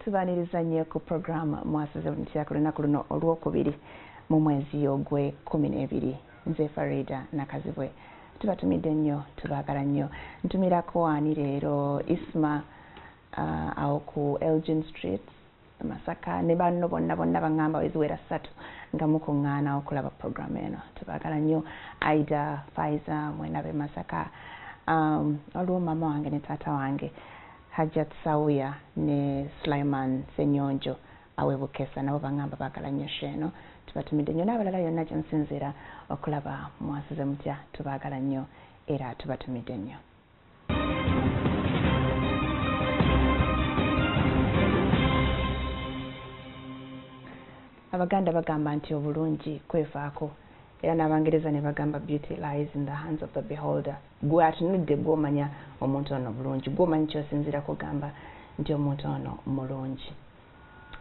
tubaniriza nnyo ku puroguramu mwasize buli kiyaku lunaku luno olwokubiri mu mwezi ogwe kumi n'ebiri nze farida nakazibwe tubatumidde nnyo tubaagala nnyo ntumirako ani leero isma uh, awo ku Elgin Street Masaka ne banno bonna bonna bangamba weziwera ssatu nga mukuŋŋaana okulaba programu eno tubagala nnyo Aida Faiza mwena be Masaka um, waliwo maama wange ne taata wange Hajjat Sauya ne Sulaiman Senyonjo awe Bukesa nabo bangamba bagala nnyo sheeno tubatumidde nnyo n'abalala yonna gye musinziira okulaba mwasize mutya tubagala nnyo era tubatumidde nnyo abaganda bagamba nti obulungi kwevaako era n'abangereza ne bagamba beauty lies in the hands of the beholder gwe atunudde gwomanya omuntu ono bulungi gwomanyi kyosinzira kugamba nti omuntu ono mulungi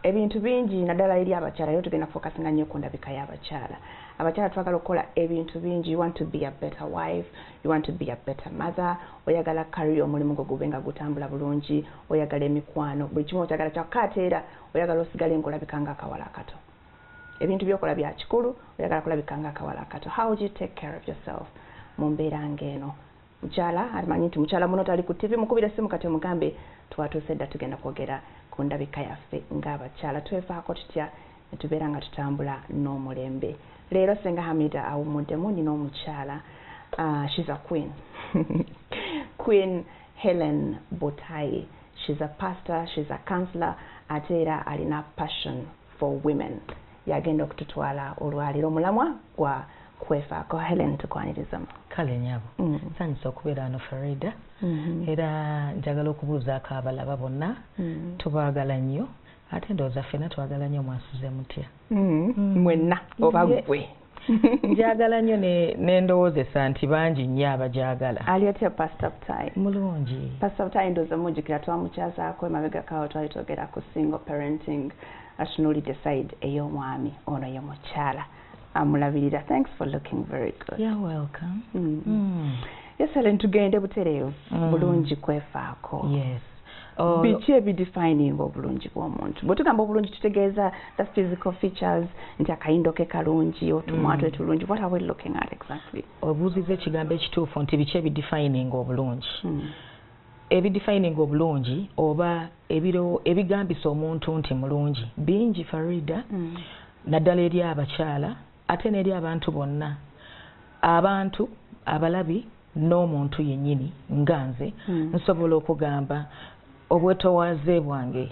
ebintu bingi naddala eri abakyala yo tugenda focusinga nnyo ku ndabika y'abakyala abakyala twagala okukola ebintu bingi you want to be a better wife you want to be a better mother oyagala kariya omulimu gwo gube nga gutambula bulungi oyagala emikwano buli kimu okyagala kyakka ate era oyagala osigale ngaolabika nga akawala akato ebintu byokola bya kikulu oyagala kulabika nga akawala akato how do you take care of yourself mu mbeera ng'eno mukyala amanyi nti mukyala muno tali ku ttivi mukubira essimu kati omugambe twatuuse dda tugenda kwogera ku ndabika yaffe ng'abakyala twefaako tutya ne tubeera nga tutambula n'omulembe leero senga hamida awummuddemu nina omukyala uh, she's a queen queen helen butayi she's a pastor she's a counselor ate era alina passion for women yagenda okututwala olwaliro omulamwa gwa kwefaako helen tukwanirizamu kale nyabo mm. sanyusa okubeera wano farida mm-hmm. era njagala okubuuzaako abalaba bonna mm. tubaagala nnyo ate ndowooza ffena twagala nnyo mwasuze mutya mm-hmm. mm. mwenna oba gwe njagala nnyo nendowoozesa nti bangi nnyo abagyagala ali otya pasita butayi mulungi pasita butayi ndoze mujjukira twamukyazaako emabega kawo twali twogera ku single parenting atunulidde side ey'omwami ono ye mukyala amulabirira thanks for looking very good You're welcome mm. Mm. yesale ntugende butereevu mm. bulungi kwefaako yes Oh. biki ebidefininga obulungi bw'omuntu bwetugamba obulungi tutegeeza the physical features nti akayindo ke kalungi otumwa mm. twe tulungi what are we looking at exactly obuuziza ekigambo ekituufu nti biki ebidefininga obulungi mm. ebidefininga obulungi oba ebigambisa omuntu nti mulungi bingi farida mm. naddala eri abakyala ate n'eri abantu bonna abantu abalabi n'omuntu yennyini nga nze hmm. nsobola okugamba obwetowaaze bwange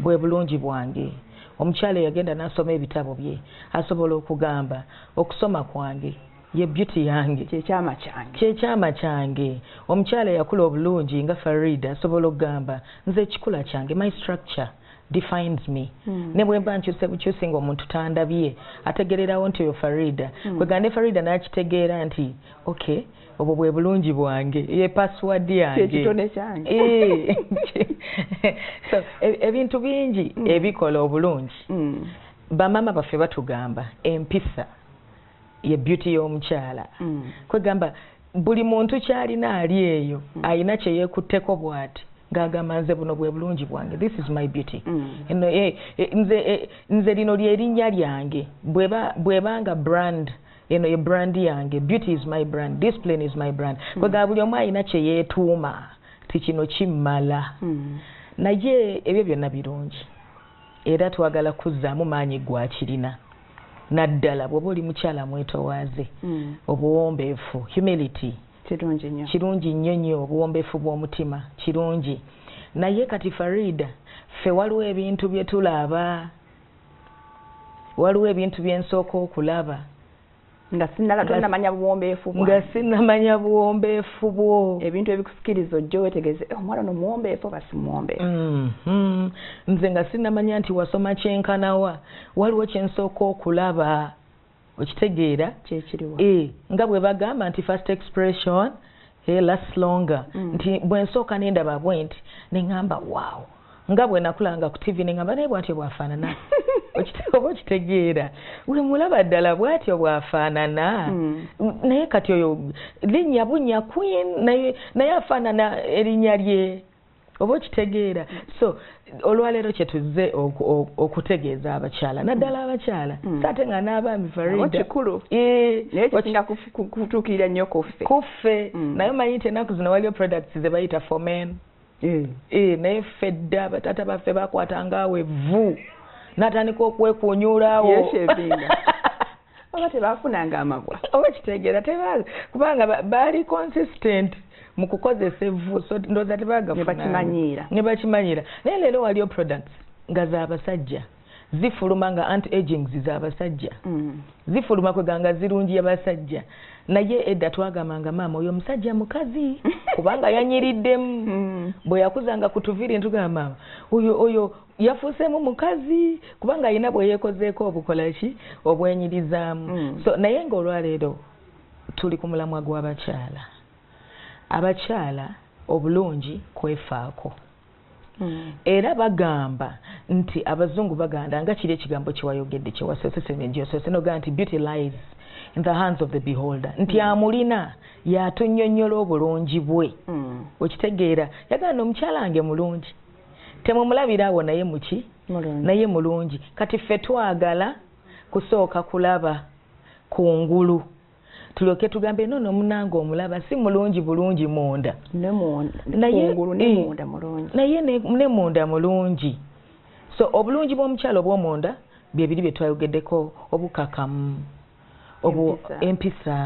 bwe bulungi bwange omukyala eyagenda n'asoma ebitabo bye asobola okugamba okusoma kwange ye beauty yange kyekyama kyange kyekyama kyange omukyala eyakula obulungi nga farida asobola okugamba nze ekikula kyange my structure defines me mm. ne bwemba nkyuse bukyusi nga omuntu tandabye ategererawo nti oyo farida mm. kwegande farida nakitegeera nti okay obwo bwe bulungi bwange ye password yange kyekitone kyange eh. so e, ebintu e bingi mm. ebikola obulungi mm. bamama baffe batugamba empisa ye beauty y'omukyala mm. kwegamba buli muntu kyalina ali eyo mm. alina kyeyekutteko bwati ngagamba nze buno bwe bulungi bwange this is my beauty mm. eno eh, eh, nze eh, nze lino lyerinnya lyange bweba bwebanga brand mm. eno ye brand yange beauty is my brand discipline is my brand mm. kwegaba buli omu alina kyeyeetuuma ti kino kimmala mm. naye ebyo byonna birungi era twagala kuzzaamu maanyi gwakirina naddala bwoba oli mukyala mwetowaaze mm. obuwombeefu humility kirungi nnyo nnyo obuwombeefu bw'omutima kirungi naye kati farida ffe waliwo ebintu bye tulaba waliwo ebintu bye nsooka okulaba nga sinala tonamanya buwombeefu bwo nga sinamanya buwombeefu bwo ebintu ebikusikiriza ojja wetegeze eh, omwana no muwombeefu basi muwombeefu mm -hmm. nze nga sinamanya nti wasoma kyenkanawa waliwo kyensooka okulaba okitegeera kyekiriwa e, nga bwe bagamba nti first expression he last longer mm. nti bwensooka nendaba bwenti nengamba wow nga bwenakulanga ku tv nengamba naye bwatyo bwafaanana oba okitegeera wemulaba ddala bwatyo bwafaanana mm. naye kati oyo linnya bunnya queen naye afaanana erinnya lye oba okitegeera so olwaleero kyetuzze okutegeeza abakyala naddala abakyala hmm. saate nga n'abaami faridakikulu ekisinga kutuukirira nnyo kuffe kuffe hmm. naye omanyi nti ennaku zino waliyo products ze bayita for men eh. Eh, naye ffe dda bataata baffe bakwatanga awo evvu natandika okwekunyuulaawo oba tebafunanga amabwa oba kitegeera tebaazi kubanga baali consistent mu kukozesa evvu so ndowooza tebagafunebakimanyiira ne bakimanyiira naye leero waliyo products nga z'abasajja zifuluma nga anti agings z'abasajja mm. zifuluma kweganga zirungi yabasajja naye edda twagambanga maama oyo omusajja mukazi kubanga yanyiriddemu mm. bwe yakuzanga ku tuviri ntugamba maama oyo oyo yafuuseemu mukazi kubanga alina bweyekozeeko obukolaki obwenyirizaamu mm. so naye nga olwaleero tuli ku mulamwa gw'abakyala abakyala obulungi kwefaako mm. era bagamba nti abazungu baganda nga kiri ekigambo kyewayogedde kyewasosesngyosose noga nti beauty lies in the hands of the beholder nti mm. amulina yatunyonyola obulungi bwe mm. okitegeera yagamba nomukyala nge mulungi temumulabira awo naye muki naye mulungi kati ffe twagala kusooka kulaba ku ngulu tulyoke tugambe no nomunanga omulaba si mulungi bulungi munda naye ne munda mulungi so obulungi bw'omukyalo obwomunda byebiri byetwayogeddeko obukakamu empisa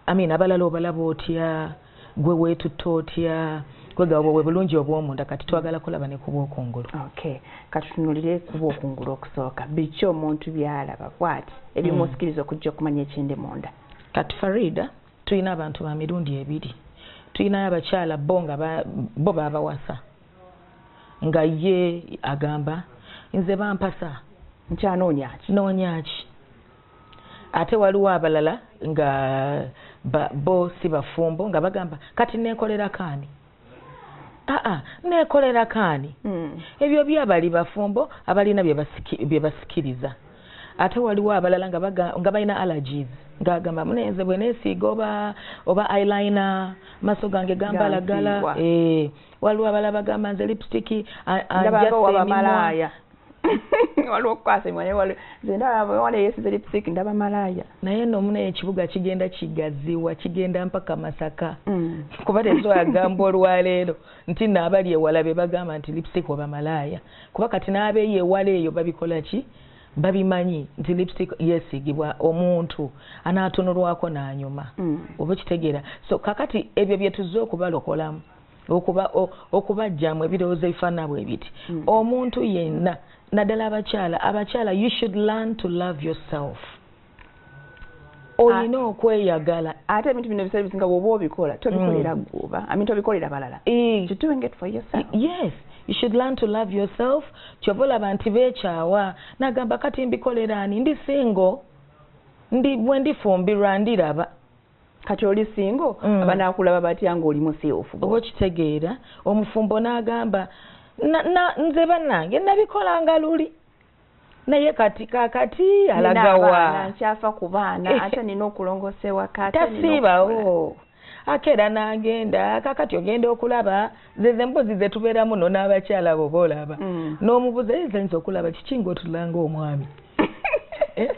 amina abalala obalaba otya gwe weetutte otya kwegaba bwe bulungi obw'omunda kati twagala kulaba ne kubwokungulu okay katutunulire kubwokungulu okusooka biki omuntu byalaba bwati ebimusikiriza hmm. okujja okumanya ekindi munda kati farida tulina abantu ba mirundi ebiri tulinayo abakyala bo nga bo babawasa nga ye agamba nze bampasa nkyanoonyaki noonyaki ate waliwo abalala nga bo si bafumbo nga bagamba kati neekolera kaani aa neekolera kaani hmm. ebyo byabali bafumbo abalina bye basikiriza ate waliwo abalala nga balina allergies ngagamba munenze bwe neesiiga oba oba ilina maso gange gambalagala waliwo abala bagamba nze lipstick anjasemiwaya waliwo okukwasa emimwa naye waliwo nze ndaba wala eyesize lipstick ndaba malaaya naye no muna ekibuga kigenda kigaziwa kigenda mpaka masaka mm. kuba tezoagamba olwaleero nti naabali ewala be bagamba nti lipstick oba malaaya kuba kati n'abeeyo ewala eyo babikola ki babimanyi nti lipstick yesigibwa omuntu anaatunulwako n'anyuma mm. oba kitegeera so kakati ebyo bye tuzze okubalokolamu okuba okubajjamu ebirowoozo ebifaanana bwe biti mm. omuntu yenna naddala abakyala abakyala you should learn to love yourself olina ah. okweyagala ate ebintu bino bisale bisinga woba obikola tobikolera mm. gwoba ami tobikolera balala yes you should learn to love yourself kyova olaba nti bekyawa nagamba kati mbikolera ani ndi singo ndi bwendifumbirwa ndiraba kati oli singo mm. abanakulaba batya ngaoli museofu oba okitegeera omufumbo n'agamba nze banange nabikolanga luli naye kati kakati alagawa nkyafa ku baana eh. ate nina okulongosa ewaka tasiibawo ake era nagenda kakati ogenda okulaba zeze mbuzi zetubeeramu no n'abakyala bo boolaba mm. n'omubuza ezenza okulaba kiki ngaotulanga omwami eh?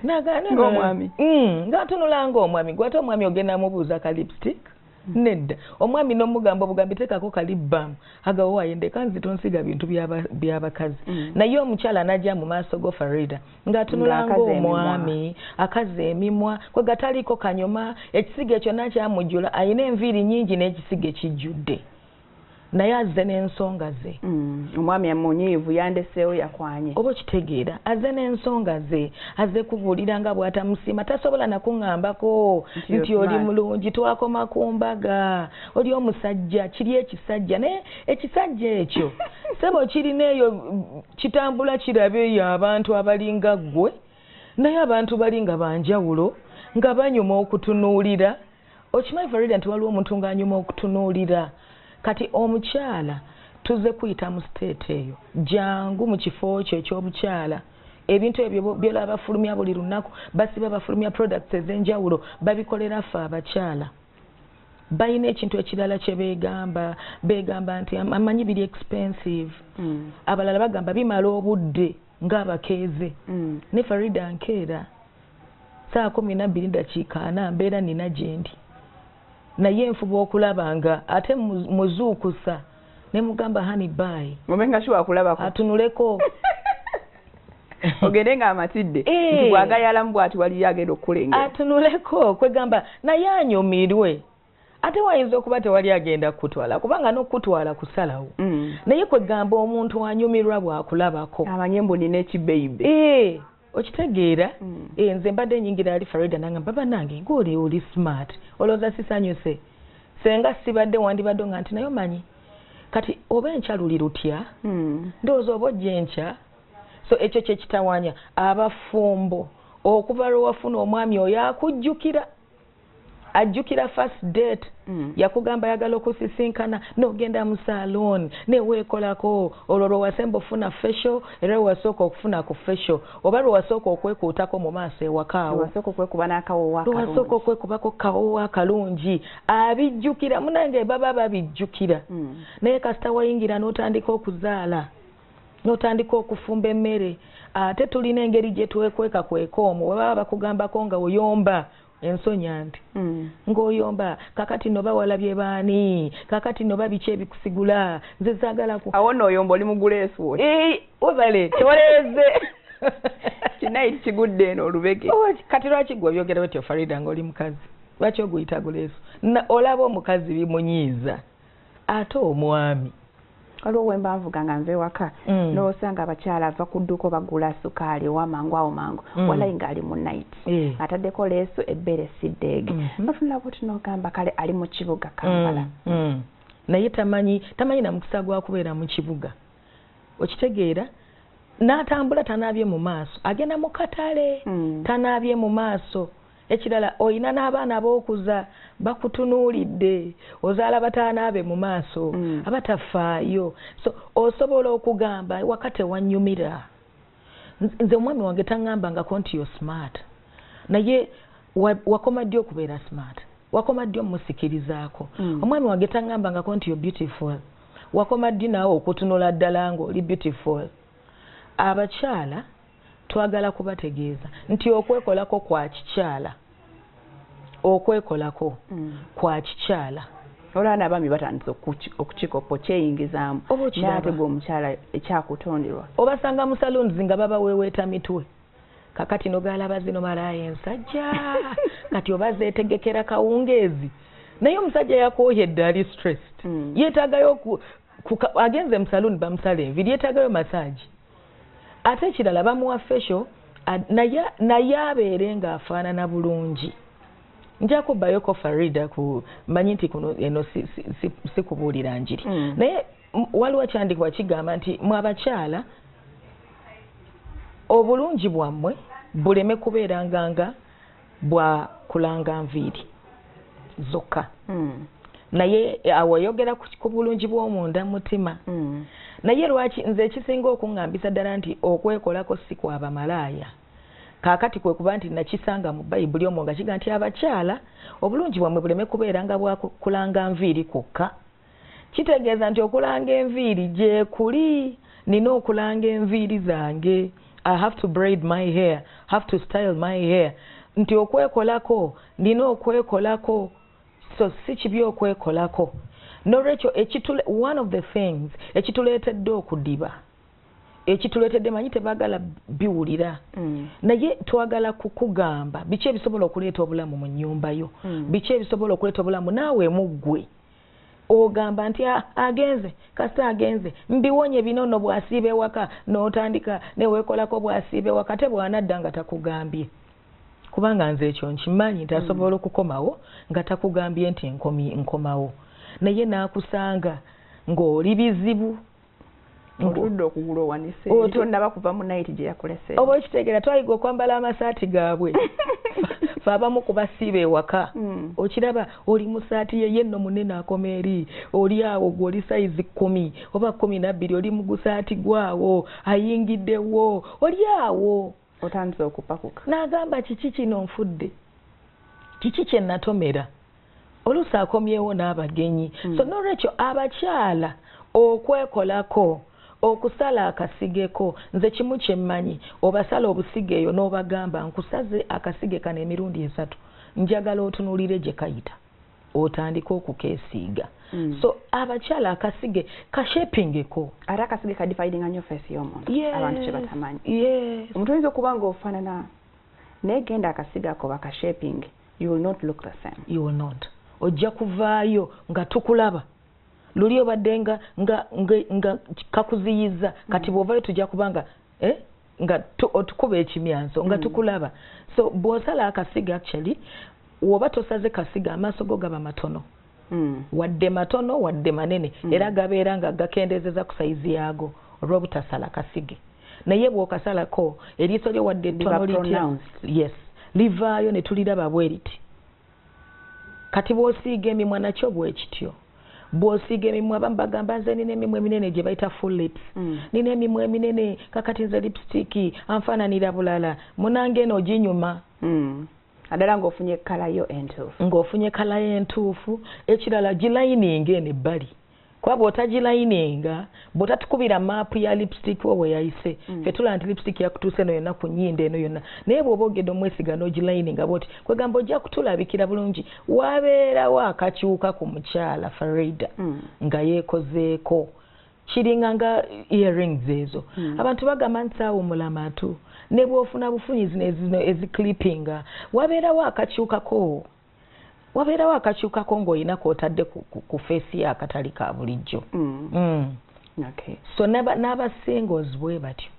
nagaana ng'omwami mm, ngatunula ng'omwami gwate omwami ogenda mubuuza ka lipstick mm. nedda omwami nomugamba obugambi tekako kalibbamu agawowaye ndeka nzito nsiga bintu byabakazi mm. naye omukyala anaja mu maaso go farida ng'atunula ng'omwami akaza emimwa kwe gataliiko kanyuma ekisiga ekyo nakyamujjula alina enviiri nyingi n'ekisiga ekijjudde naye azze n'ensonga ze mm. omwami amunyiivu yandeseewo yakwanye oba okitegeera azze n'ensonga ze azze kubuulira nga bw'atamusiima tasobola nakuŋambako nti oli mulungi twakoma ku mbaga oli omusajja kiri ekisajja naye ekisajja ekyo sebo kirina eyo kitambula kirabe eyo abantu abalinga ggwe naye abantu bali nga banjawulo nga banyuma okutunuulira okimanyi farida nti waliwo omuntu ng'anyuma okutunuulira kati omukyala tuze kuyita mu siteeti eyo jangu mu kifo kyo ekyobukyala ebintu ebyo byolaba bafulumya buli lunaku basiba bafulumya products ez'enjawulo babikolera ffe abakyala balina ekintu ekirala kye beegamba beegamba nti amanyi biri expensive hmm. abalala bagamba bimala obudde ng'abakeeze mm. ne farida nkeera saa kumi nabbiri dakiika ana mbeera nina gyendi naye nfuba okulaba nga ate muzuukusa ne mugamba hani bayi atunuleko ogende nga amatidde eh. bwagayalamu bwati waliyo agenda okukulengera atunuleko kwegamba naye anyumirwe ate wayinza okuba tewali agenda kukutwala kubanga nokukutwala kusalawo mm. naye kwegamba omuntu anyumirwa bwakulabako amanye mbu nina ekibeibe eh, okitegeera mm. eh, nze mbadde nyingira ali farida nanga baba nange ngaoli oli smart olowooza sisanyuse senga sibadde wandibadde nga nti naye omanyi kati oba enkya luli lutya mm. ndowooza oba ojja enkya so ekyo kyekitawanya abafumbo okuva lwewafuna omwami oyo akujjukira ajjukira first date mm. yakugamba yagala okusisinkana nogenda mu saloon neweekolako olwo lwewasemba ofuna fesho era lwewasooka okufuna ku fesho oba lwewasooka okwekuutako mu maaso ewakaawo lwewasooka okwekubako kawowo akalungi abijjukira munange baba babijjukira mm. naye kasita wayingira n'otandika okuzaala n'otandika okufumba emmere ate tulina engeri gye twekweka kweka omwo webaba bakugambako nga oyomba ensonyi anti mm. ng'oyomba kakati no bawala bye baani kakati no babiki ebikusigula nze zaagalaku awo nooyomba oli muguleesu webale tewaleeze kinaiti kigudde eno olubege oh, kati lwaki gwe obyogera otyo farida ng'oli mukazi lwaki oguyita guleesu olaba omukazi bimunyiiza ate omwami waliwo wembanvuga nga nva ewaka mm. nosanga abakyala ava ku dduuko bagula sukaali owa mangu awo mangu mm. walayi ngaali mu nit eh. ataddeko leesu ebbeere siddeege mm-hmm. notunula buti nogamba kale ali mu kibuga kampala mm, mm. naye tamanyi tamanyi na mukisa gwa kubeera mu kibuga okitegeera n'atambula tanaabye mu maaso agenda mu katale tanaabye mu maaso ekirala olina n'abaana ab'okuza bakutunuulidde ozaala bataanaabe mu maaso mm. abatafaayo so osobola okugamba waka tewanyumira nze omwami wange taŋŋamba ngako nti yo smart naye wakoma ddi okubeera smart wakoma ddi omusikirizaako mm. omwami wange taŋŋamba ngako nti yo beautiful wakoma ddi naawe okutunula ddala ng'oli beautiful abakyala Twagala kubategeeza nti okwekolako kwa kikyala okwekolako mm. kwa kikyala olaba n'abaami batandise okukikopo kyeyingizaamu oh, naate gwe omukyala ekyakutonderwa obasanga mu saloons nga babaweweeta mitwe kakati nogalaba zino malaaya ensajja kati oba zeetegekera kawungeezi naye omusajja yakooya eddali stressed mm. yeetaagayo agenze mu saloon bamusala enviri yeetaagayo masaagi ate ekirala bamuwa fesho naye naye abeere ng'afaanana bulungi nja kubbayoko farida ku manyi nti kuno eno sikubuulira si, si, si njiri mm. naye waliwo kyandikuba kigamba nti mwe abakyala obulungi bwammwe buleme kubeeranganga bwa kulanga nviiri zokka mm. naye eh, awo oyogera ku bulungi bw'omunda mutima mm. naye lwaki nze ekisinga okuŋŋambisa ddala nti okwekolako si kwa bamalaaya kaakati kwe kuba nti nakisanga mu bayibuli omwo nga kiga nti abakyala obulungi bwammwe buleme kubeera nga bwakulanga nviiri kwokka kitegeeza nti okulanga enviiri gyekuli nina okulanga enviiri zange i have to braid my hair have to style my hair nti okwekolako nina okwekolako so si kibi okwekolako nolwekyo one of the things ekituleetedde okudiba ekituleetedde manyi tebagala biwulira mm. naye twagala kukugamba biki ebisobola okuleeta obulamu mu nyumba yo mm. biki ebisobola okuleeta obulamu naawe muggwe ogamba nti ah, agenze kasita agenze mbiwonye binono bwasiiba ewaka notandika newekolako bwasiiba ewaka te bwanadda nga takugambye kubanga nze ekyo nkimanyi nti asobola mm. okukomawo nga takugambye nti nkomawo naye nakusanga ng'oli bizibu otudde okugula owanise tonnaba kuva mu nayiti gye yakulese oba okitegera twayiga okwambala amasaati gaabwe fe abamu ku basiiba ewaka hmm. okiraba oli mu saati yeye nno munene akoma eri oli awo gwe oli sayizi kkumi oba kkumi nabbiri oli mu gusaati gwawo ayingiddewo oli awo otandise okupakuka n'agamba kiki kino nfudde kiki kye natomera oluusi akomyewo n'abagenyi hmm. so n'olwekyo abakyala okwekolako okusala akasigeko nze kimu kyemmanyi obasala obusiga eyo n'obagamba nkusaze akasige kano emirundi esatu njagala otunulire gye kayita otandika okukesiiga mm. so abakyala akasige kashepingeko ate akasige kadifaidinga nyo fesi yomuntu yeah. abantu kyebatamanyi yeah. omuntu oyinza okuba nga ofanana naye genda akasiga ako bakashepinge you will not look the same you will not ojja kuvaayo nga tukulaba luli obadde nga nga nga kakuziyiza kati bwovayo tujja kubanga eh nga otukuba ekimyanso nga mm. tukulaba so bwosala akasiga actually woba tosaze kasiga amaaso go gaba matono mm. wadde matono wadde manene mm. era gabeera nga gakendezeza ku sayizi yaago olw'obutasala kasige naye bw'okasalako eriiso lyo wadde ettono litya yes livaayo ne tuliraba bwe riti kati bw'osiiga emimwa nakyo bwekityo bwosiiga emimwa abamu bagamba nze nina emimwa eminene gye bayita full lips mm. nina emimwa eminene kakati nze lipstick anfaananira bulala munange eno oginyuma mm. adala ng'ofunye kalayo entuufu ng'ofunye kalayo entuufu ekirala gilayininga eno ebbali kuba bw'otagilayininga bw'otatukubira maapu ya lipstick wo weyayise mm. fe tulaba nti lipstick yakutuuse eno yonna ku nyindo eno yonna naye bw'oba ogenda omwesiga n'ogilayininga bwoti kwegamba ojja kutulabikira bulungi wabeerawo akakyuka ku mukyala farida mm. nga yeekozeeko kiringa nga earrings ezo hmm. abantu bagamba nti saawumula amatu ne bwofuna bufunyi zino ezino eziclippinga wabeerawo akakyukako wabeerawo akakyukako ng'olina kwotadde ku feesi y'akatali ka bulijjo hmm. Hmm. so n'abasingles bwe batyo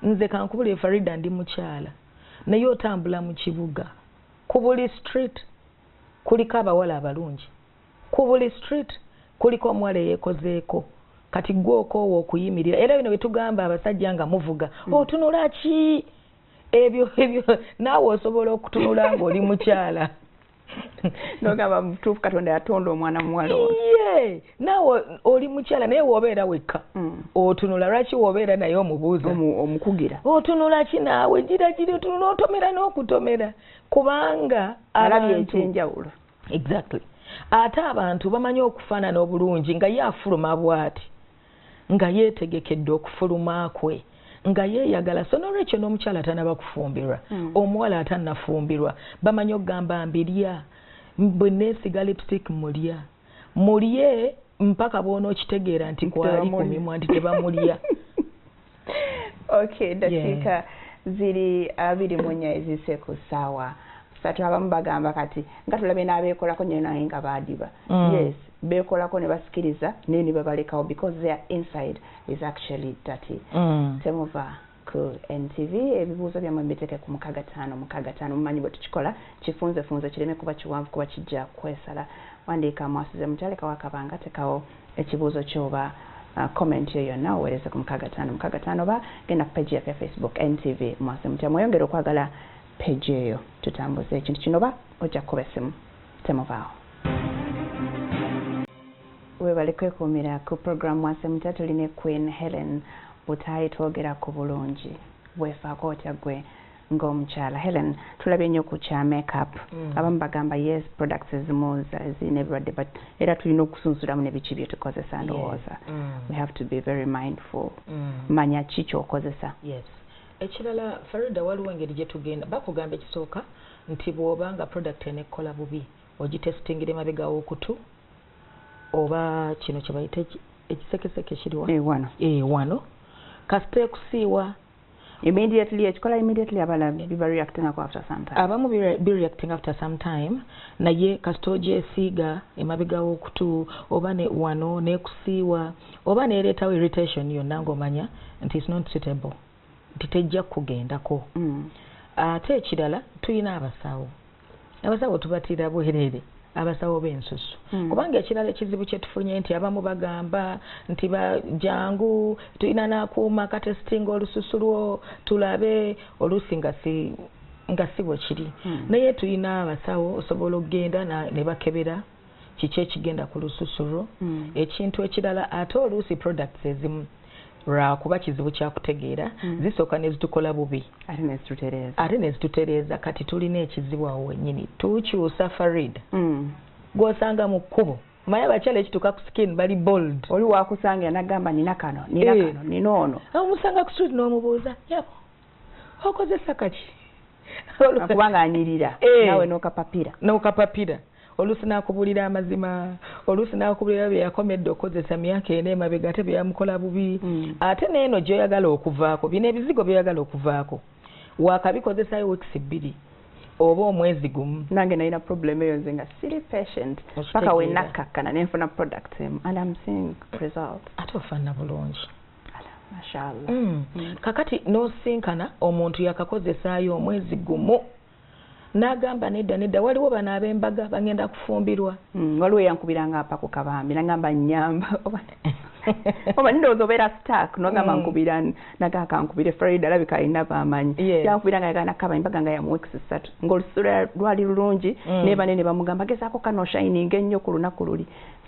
nze kankubule farida ndi mukyala naye otambula mu kibuga ku buli street kuliko abawala abalungi ku buli street kuliko omuwala eyekozeeko kati gwe okoowa okuyimirira era bino byetugamba abasajja nga muvuga mm. otunula ki ebyo ebyo naawe osobola okutunula ngaoli mukyala nogamba mutuufu katonda yatonda omwana muwala ye naawe oli mukyala naye wobeera wekka mm. otunula lwaki wobeera naye omubuuza omukugira otunula ki naawe gira giri otunula otomera n'okutomera kubanga alabye ekyenjawulo exactly ate abantu bamanyi okufaanana obulungi nga ye afuluma bwati nga yeetegekedde okufuluma kwe nga yeeyagala so nolwekyo n'omukyala atanaba kufumbirwa hmm. omuwala atanafumbirwa bamanyi okugamba mbirya bwe neesiga lipstick mulya mulye mpaka bwona okitegeera nti kwali ku mimwa nti tebamulya okay dakiika yeah. ziri abiri mu nnya ezise ku ssaawa satu abamu bagamba kati nga tulabye n'abeekolako nyo naye nga baadiba mm. yes beekolako ne basikiriza naye ne babalekawo because their inside is actually dirty mm. temuva ku ntv ebibuuzo byammwe mbiteeke ku mukaga taano mukaga taano mumanyi bwe tukikola kifunzefunze kireme kuba kiwanvu kuba kijja kwesala wandiika mwasuze mutalekawo akabanga tekawo ekibuuzo kyo oba uh, comment yo yonna oweereze ku mukaaga taano mukaaga taano oba genda ku page yaffe facebook ntv mwase mutya mweyongere okwagala page eyo tutambuze ekintu kino oba ojja kukuba essimu temuvaawo webale kwekuumira ku program mwase mutya tuli ne queen helen butaayi twogera ku bulungi weefaako otya ggwe nga omukyala helen tulabye nnyo ku kya makeup mm. abamu bagamba yes products ezimuuza ezirina ebirwadde but era tulina okusunsulamu ne biki byetukozesa ndowooza mm. we have to be very mindful mm. manya ki kyokozesa yes. ekirala farida waliwo engeri gyetugenda bakugamba ekisooka nti bwoba nga product enekkola bubi ogitestingira emabega wokutu oba kino kyebayita ekisekeseke kiriwano ewano eh, eh, kasita ekusiiwa immediately ekikola immediately abala biba reacting ako after some time abamu be reacting after some time naye kasita ogyesiiga emabega w'okutu oba ne wano nekusiiwa oba neereetawo irritation yonna ng'omanya nti is not suitable nti tejja kukugendako mm. ate ekirala tulina abasawo abasawo tubatira bwerere abasawo b'ensusu hmm. kubanga ekirala ekizibu kyetufunye nti abamu bagamba nti bajangu tulina nakuuma katesitinga olususu lwo tulabe oluusi nga si nga si bwe kiri hmm. naye tulina abasawo osobola okugenda ne bakebera kiki ekigenda ku lususu lwo mm. ekintu ekirala ate oluusi products ezimu lwakuba kizibu kyakutegeera mm. zisooka nezitukola bubi ate nezitutereeza kati tulina ekizibu awo wenyini tukyusa farid mm. gwosanga mu kkubo maye abakyala ekituuka ku skin bali bold oli wakusanga yanagamba nina kano nina eh. kano nina ono omusanga ku street n'omubuuza yabo okozesa kaki akubanga anyirira eh. nawe nokapapira nokapapira oluusi n'akubuulira amazima oluusi n'akubuulira bye yakoma edda okukozesa myaka ena emabega ate bye yamukola bubi mm. ate n'eno gy'oyagala okuvaako bino ebizigo by'oyagala okuvaako waakabikozesayo wiikisi bbiri oba omwezi gumu nange nalina problem eyo nze nga siri patient paka wenakkakkana nenfuna product emu and am seeing result ate ofanna bulungi mashallah mm. mm. kakati nosinkana omuntu yakakozesaayo omwezi gumu nagamba nedda nedda waliwo bano abembaga bagenda kufumbirwa mm, waliwo yankubira nga apa kukabambi nagamba nyamba oba ndowooza obeera stark nogamba mm. nkubira naga kankubire fred alabika alina bamanyi yankubira nga yagana kaba embaga nga yamuweeks ssatu ngaolusula lwali lulungi mm. nebane ne bamugamba gezaako kano shining ennyo ku lunaku luli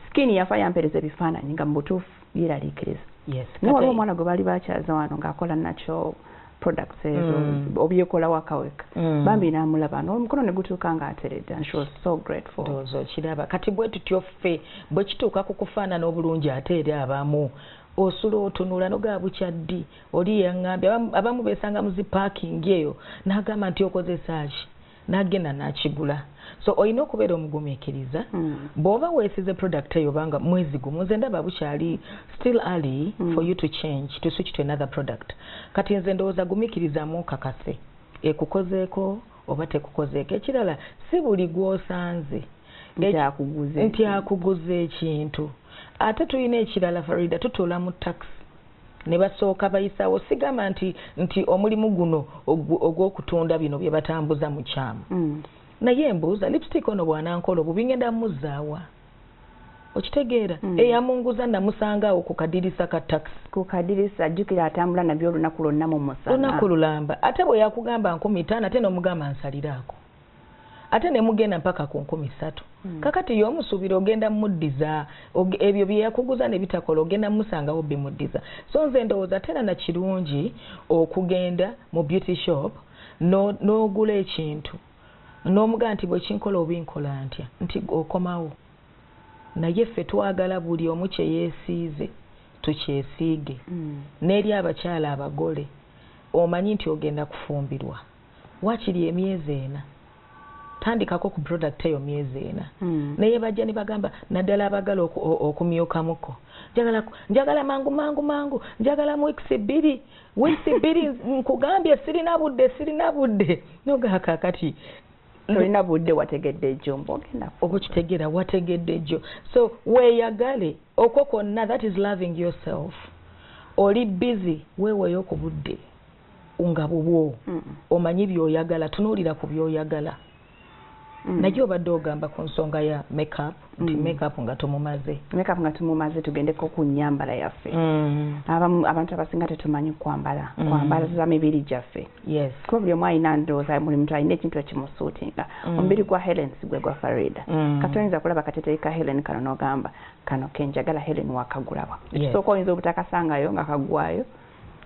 skin yafa yampereza ebifaananyi nga mu butuufu yeraliikiriza yes, waliwo omwana gwe baali bakyaza wano ngaakola nakyo products ezo mm. obyekola waka weka mm. bambi namulaba nomukono negutuuka nga ateredde and she was so grateful ndowooza okiraba kati bwe tutyo ffe bwe kituuka ku kufaanana obulungi ate eri abamu osula otunula nogaa bukyaddi oli yaŋambye abamu besanga muzi parking eyo nagamba nti okozesaki nagenda nakigula so olina okubeera omugumikiriza mm. bwoba wesize product eyo obanga mwezi gumu nze ndaba bukyali still early mm. for you to change to switch to another product kati nze ndowooza gumikirizamu kakase ekukozeeko oba tekukozeeko ekirala si buli gwosanze nti akuguza ekintu ate tulina ekirala farida tutuula mu taxi ne basooka bayisaawo sigamba nti nti omulimu guno ogw'okutunda bino bye batambuza mu kyamu mm. naye mbuuza lipstick ono bw'anankola obubi ngenda mmuzzaawa okitegeera mm. eyamunguza namusanga awo ku kadirisa ka takisi ku kadirisa ajjukira atambula nabyo olunaku lwonna mu musana olunaku lulamba ate bwe yakugamba nkumi taano ate n'omugamba nsaliraako ate ne mugenda mpaka ku nkumi ssatu hmm. kakati ye omusuubira ogenda muddiza ebyo bye yakuguza ne bitakola ogenda musangawo bimuddiza so nze ndowooza tera na kirungi okugenda mu beauty shop n'ogula ekintu n'omuga nti bwe kinkola oba enkola ntya nti okomawo naye ffe twagala buli omu kye yeesiize tukyesiige hmm. n'eri abakyala abagole omanyi nti ogenda kufumbirwa wakiri emyezi ena tandikako ku product eyo myezi ena mm. naye bajja ne bagamba naddala abagala okumyukamuko njagala njagala mangu mangu mangu njagala mu weeks bbiri weeks bbiri nkugambye sirina budde sirina budde nogakakati tolina budde wategedde ejjo mbogenda okukitegeera wategedde ejjo so weeyagale okwo kwonna that is loving yourself oli busy weeweeyo ku budde nga bubwo omanyi byoyagala tunuulira ku byoyagala mm. naye obadde ogamba ku nsonga ya makeup nti mm. makeup nga tumumaze makeup nga tumumaze tugendeko ku nyambala yaffe mm. abantu abasinga tetumanyi kwambala mm. kwambalaza mibiri gyaffe yes. kuba buli omu alina ndowooza buli muntu alina ekintu ekimusuutinga mm. omubiri gwa helen sigwe gwa farida mm. kati oyinza kulaba kateteyi ka helen kano nogamba kano kenjagala helen wakagulawa ekisooka yes. oyinza obutakasangayo nga kagwayo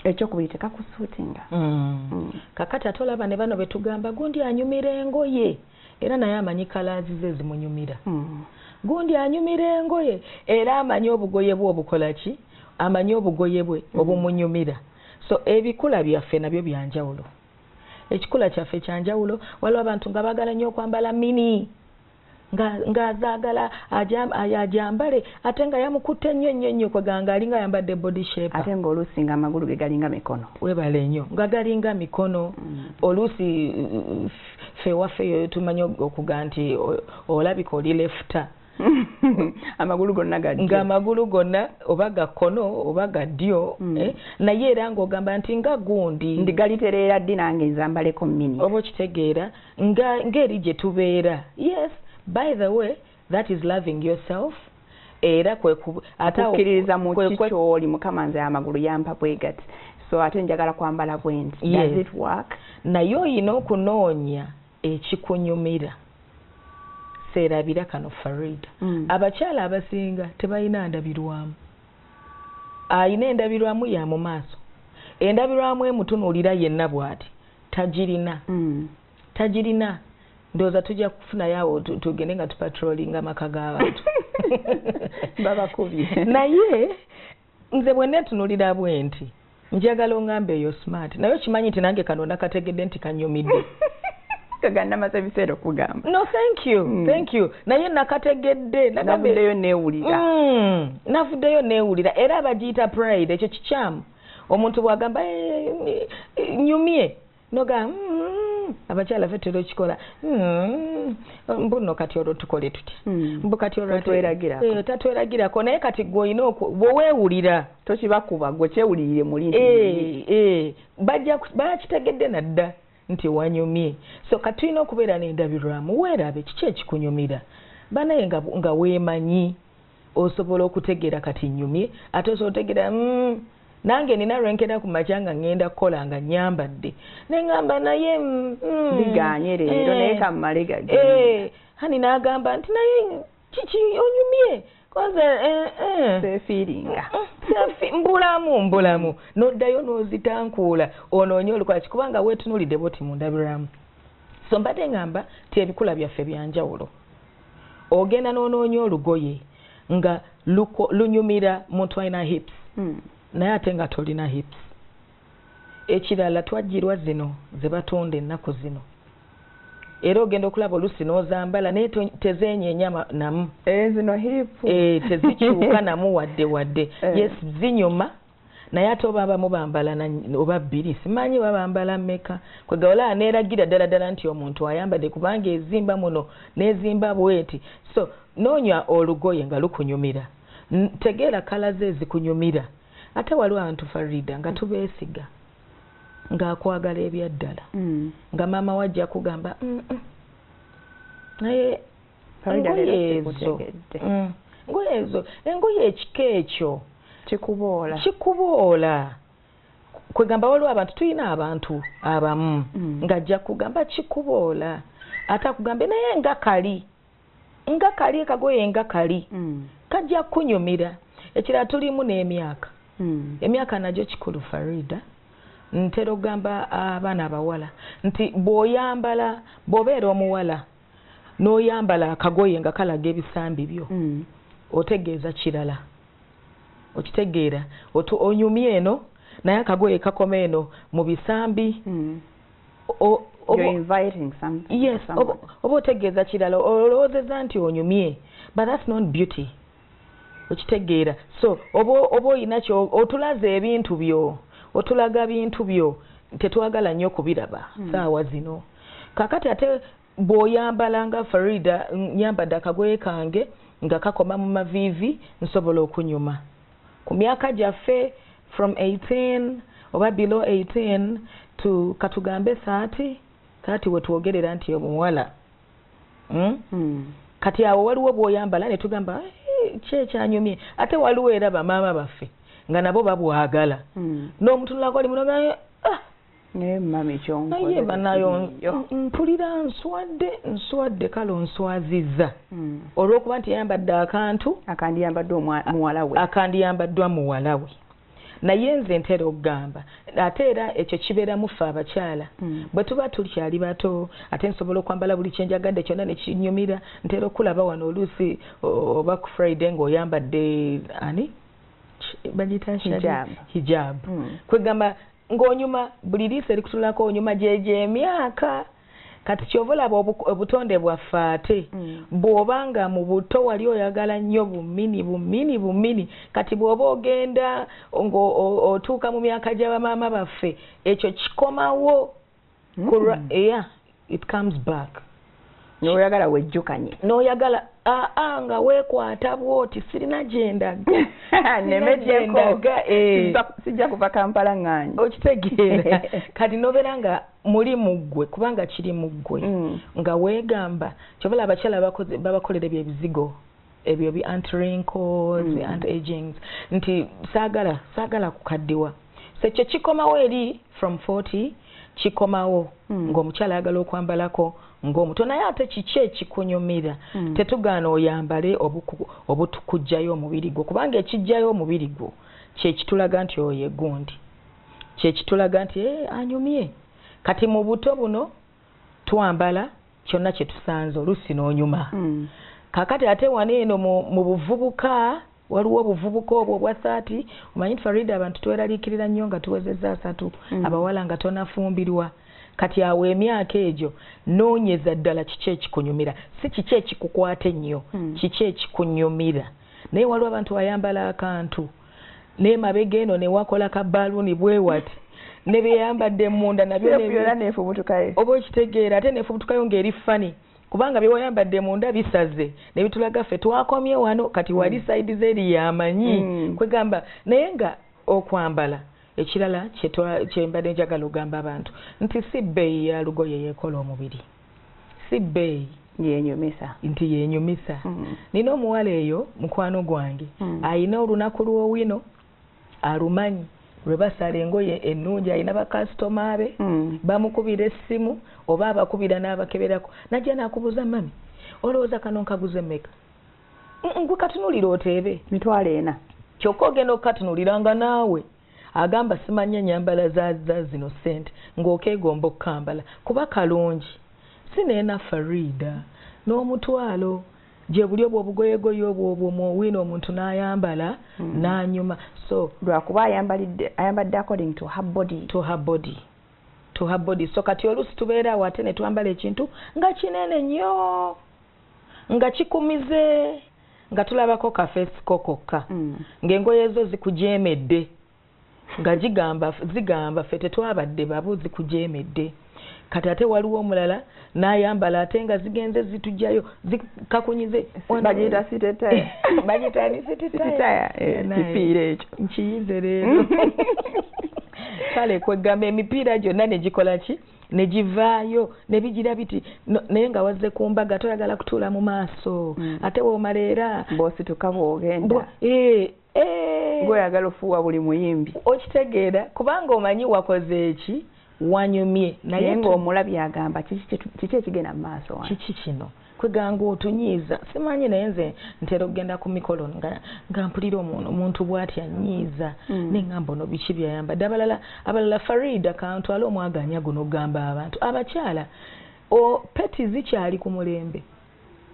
ekyokubiri tekakusuutinga mm. mm. kakati ate olaba ne bano betugamba gundi anyumira engoye era naye amanyi kalaazi ze zimunyumira mm. gundi anyumira engoye era amanyi obugoye bwe obukola ki amanyi obugoye bwe mm. obumunyumira so ebikula byaffe nabyo byanjawulo ekikula kyaffe kyanjawulo waliwo abantu nga bagala nnyo okwambala mini ng'azaagala ajambale ate nga yamukutte nnyo nnyo nnyo kweganga alinga ayambadde body shape ate ng'oluusi nga amagulu ge galinga mikono webale nnyo nga galinga mikono mm. oluusi fe waffe eyo tumanyi okuga nti olabika oli lefuta amagulu gonna gadyo nga amagulu gonna oba ga kkono oba ga ddyo mm. eh? naye era ng'ogamba nti nga gundi ndigalitereera ddi nange nzambaleko mini oba okitegeera nga ngeri gye tubeera yes by the way that is loving yourself era kwekukkiririza mu kikyoli mukama nze amagulu yampa bwegati so ate njagala kwambala bwenti yes. does it work naye oyina okunoonya ekikunyumira seerabira kano farida mm. abakyala abasinga tebalina ndabirwamu ayina endabirwamu ya mu maaso endabirwamu emutunuulira yenna bw'ati tagirina tagirina ndowooza tujja kufunayo awo tugende nga tupatrolinga amaka g'abantu babakubye naye nze bwenna etunulira bwe nti njagala ongambe eyo smart naye okimanyi nti nange kano nakategedde nti kanyumidde kaganamaze ebiseera okugamba no thank you mm. thank you naye nakategedde navuddeyo newulira mm. navuddeyo newulira era abagiyita pride ekyo kikyamu omuntu bwagamba eh, eh, nyumye noga mm, abakyala fe tera okikola mm, mbuno kati olwo tukole tuti hmm. mbu kati olwotatweragirako eh, naye kati gwe olina bwewewulira tokibakuba gwe kyewulirire muli bakitegedde nadda nti wanyumye so kati tulina okubeera nendabirwamu weerabe kiki ekikunyumira banaye nga weemanyi osobola okutegeera kati nyumye ate osobola otegeera mm, nange nina lwenkera ku makya nga ŋŋenda kukola nga nyambadde ne ŋamba naye mm, mm, biganye leero eh, naye kammale gage eh, hani n'agamba nti naye kiki onyumye koze eh, sefiringa mbulamu mbulamu noddayo n'ozitankuula onoonye olukwaki kubanga weetunuulidde bwoti mundabiramu so mbadde ŋamba ti ebikula byaffe byanjawulo ogenda n'onoonya olugoye nga lunyumira muntu alina hips hmm. naye ate nga tolina hips ekirala twajjirwa zino ze batunda ennaku zino era ogenda okulaba olusi n'ozambala naye tezenyenya namu eh, eh, tezikyuka namu wadde wadde eh. yes zinyuma naye ate oba abamu bambala oba bbiri simanyi oba bambala mmeka kwegawala neeragira ddala ddala nti omuntu ayambadde kubanga ezimba muno n'ezimba bweti so noonya olugoye nga lukunyumira tegeera kala ze ezikunyumira ate waliwo abantu farida nga tubeesiga ng'akwagala ebyaddala mm. nga maama we ajja kugamba naye engoye ezo mm. engoye ezo engoye ekika ekyo kikuboola kikuboola kwegamba waliwo abantu tulina abantu abamu mm. ngajja kugamba kikuboola ate akugambe naye nga kali nga kali kagoye nga kali mm. kajja kunyumira ekirala tulimu n'emyaka emyaka nagyo kikulu farida ntera okugamba abaana abawala nti bw'oyambala bw'obeera omuwala n'oyambala akagoye nga kalaga ebisambi byo mm. otegeeza kirala okitegeera onyumye eno naye akagoye kakoma eno mu bisambi mm. oba otegeeza kirala olowoozeza nti onyumye but that's not beauty okitegeera so oba oba oyina ky otulaza ebintu byo otulaga bintu byo tetwagala nnyo kubiraba hmm. saawa zino kakati ate bw'oyambala nga farida nyambadde akagoye kange nga kakoma mu maviivi nsobola okunyuma ku myaka gyaffe from 18 oba below 18 to katugambe 30 30 wetwogerera nti omuwala hmm? Hmm. kati awo waliwo bwoyambala netugamba eh, kyekyanyumye ate waliwo era bamaama baffe nga nabo babwagala hmm. n'omutunulako oli munogayo ah! naye mami kyonkoye banayo mpulira nswadde nswadde kale onswaziza hmm. olwokuba nti yayambadde akantu akandiyambaddwa muwalawe akandiyambaddwa muwalawe naye nze ntera okugamba ate era ekyo kibeeramu ffe abakyala hmm. bwe tuba tukyali bato ate nsobola okwambala buli kyenjagadde kyonna nekinyumira ntera okulaba wano oluusi oba ku friday ngaoyambadde ani bagiyita hijabu hmm. kwegamba ng'onyuma buli liiso erikutunulako onyuma gyegyo emyaka kati kyova olaba obutonde bwaffe ate mm. bw'oba nga mu buto wali oyagala nnyo bumini bumini bumini kati bw'oba ogenda ng'otuuka mu myaka gya bamaama baffe ekyo kikomawo kulwa mm. yeah it comes back noyagala wejjukanye noyagala aa ah, ah, nga wekwata bwoti sirina gyendaga nemegyendaga eh. sijja kuva kampala ŋŋanyi okitegeera kati nobeera nga muli muggwe kubanga kiri muggwe mm. nga wegamba kyobola abakyala babakolera ebyebizigo ebyo bi anti wrinkles mm. anti agings nti saagala saagala kukaddiwa so ekyo kikomawo eri from 40 kikomawo mm. ng'omukyala ayagala okwambalako ng'omuto naye ate kiki ekikunyumira mm. tetugaana oyambale obutukujjayo omubiri gwo kubanga ekijjayo omubiri gwo kyekitulaga nti oyo egundi kyekitulaga nti eh, anyumye kati mu buto buno twambala kyonna kye tusanze oluusi n'onyuma mm. kakati ate wano eno mu buvubuka waliwo obuvubuka obwo obwa thati omanyi nti farida abantu tweraliikirira nnyo nga tuwezezza asatu mm. abawala nga tonafumbirwa kati awo emyaka egyo noonyeza ddala kiki ekikunyumira si kiki ekikukwata ennyo mm. kiki ekikunyumira naye waliwo abantu ayambala akantu naye mabega eno newakola ka baluuni bwewati ne byeyambadde munda nabyo nefubutukayo oba okitegeera ate nefubutukayo ng'eri fani kubanga byewayambadde munda bisaze ne bitulaga ffe twakomye wano kati mm. wali saidi zeri yamanyi mm. kwegamba naye nga okwambala ekirala kyembadde njagala ogamba abantu nti si bbeeyi ya lugoye yekola omubiri si bbeeyi yenyumisa nti yenyumisa mm. nina omuwala eyo mukwano gwange mm. ayina olunaku lwowino alumanyi lwe basala engoye ennungi alina bakasitoma be mm. bamukubira essimu oba abakubira n'abakeberako najja nakubuuza mami olowooza kano nkaguze meka ngwe katunulira oteebe mitwalo ena kyokka ogenda okukatunulira nga naawe agamba simanyi enyambala za zino sente ng'okeegomba okukambala kuba kalungi si neena fariida n'omutwalo gye buli obwo obugoyegoye obwo obwo muwiina omuntu n'ayambala hmm. n'anyuma so lwakuba ayambadde according to her body to her body to her body so kati oluusi tubeera awo ate ne twambala ekintu nga kinene nnyo nga kikumize nga tulabako kafeesi ko kokka mm. ng'engoye zo zikujeemedde nga gigamba zigamba ffe tetwabadde babu zikujeemedde kati ate waliwo omulala n'ayambala ate nga zigenze zitujjayo zikakunyize bagiyita sitetaye bagiyita ni sitetaye eh, kipiira ekyo nkiyize leero kale kweggamba emipiira gyonna ne gikola ki ne givaayo ne bigira biti naye nga wazze ku mbaga toyagala kutuula mu maaso mm. ate woomala era bwosituka bwogenda eh, eh. gweoyagala ofuuwa buli muyimbi okitegeera kubanga omanyi wakoze eki wanyumye naye ngaomulabye agamba kiki ekigenda mu maaso kiki kino kweganga otunyiiza simanyi naye nze ntera okugenda ku mikolo nga mpulira omuntu bwati anyiiza mm. neŋamba ono biki byayamba dde abalala abalala farida kantwala omwaganya guno okugamba abantu abakyala peti zikyali ku mulembe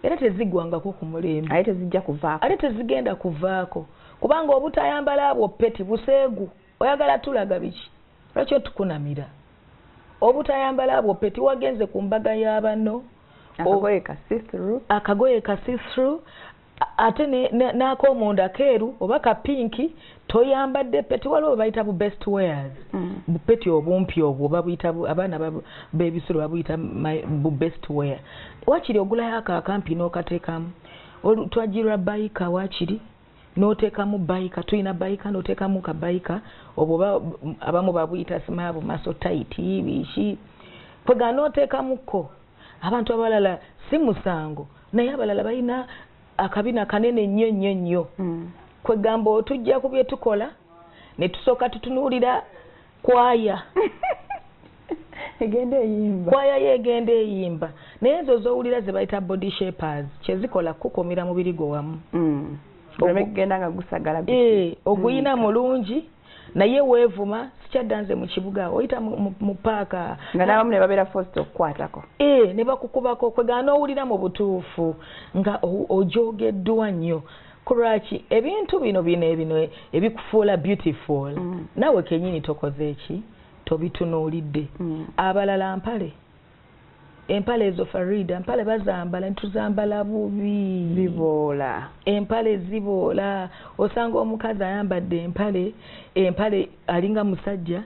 era tezigwangako ku mulembe ate tezigenda kuvaako kubanga obutayambala abwo peti buseegu oyagala tulaga biki lwaki otukunamira obutayambala abwo peti wagenze ku mbaga y'abano akagoye ka sithru ate n'akomunda keeru oba ka pinki toyambadde peti waliwo bayita bu best wares mm. bupeti obumpi obwo babuyita abaana bebisulo babuyita bu best ware wakiri ogulayo ako akampi n'okateekamu twajirwa bayika wakiri n'oteekamu bayika tulina bayika n'oteekamu ka bayika obwo oba abamu babuyita simaabu maso tayiti biki kwega n'oteekamukko abantu abalala si musango naye abalala balina akabina kanene nnyo nnyo nnyo hmm. kwegamba otujja ku bye tukola ne tusooka tutunuulira kwaya egenda eyimba kwaya yo egenda eyimba naye ezo zowulira zebayita body shapers kyezikola kukukumira mubiri gwo wamu mm. ogenda nga gusagala eh, oguyina mm. mulungi naye weevuma sikyadda nze mu kibuga oyita mu paaka nga n'abamu ne babeera fosta okukwatako ee eh, ne bakukubako kwegana owulira mu butuufu nga ojogeddwa nnyo kulwaki ebintu bino bino ebino ebikufuula beautiful mm. nawe kenyini tokoze eki tobitunuulidde mm. abalala mpale empale ezo farida mpale bazambala ntuzambala bubi ziboola empale ziboola osanga omukazi ayambadde empale empale alinga musajja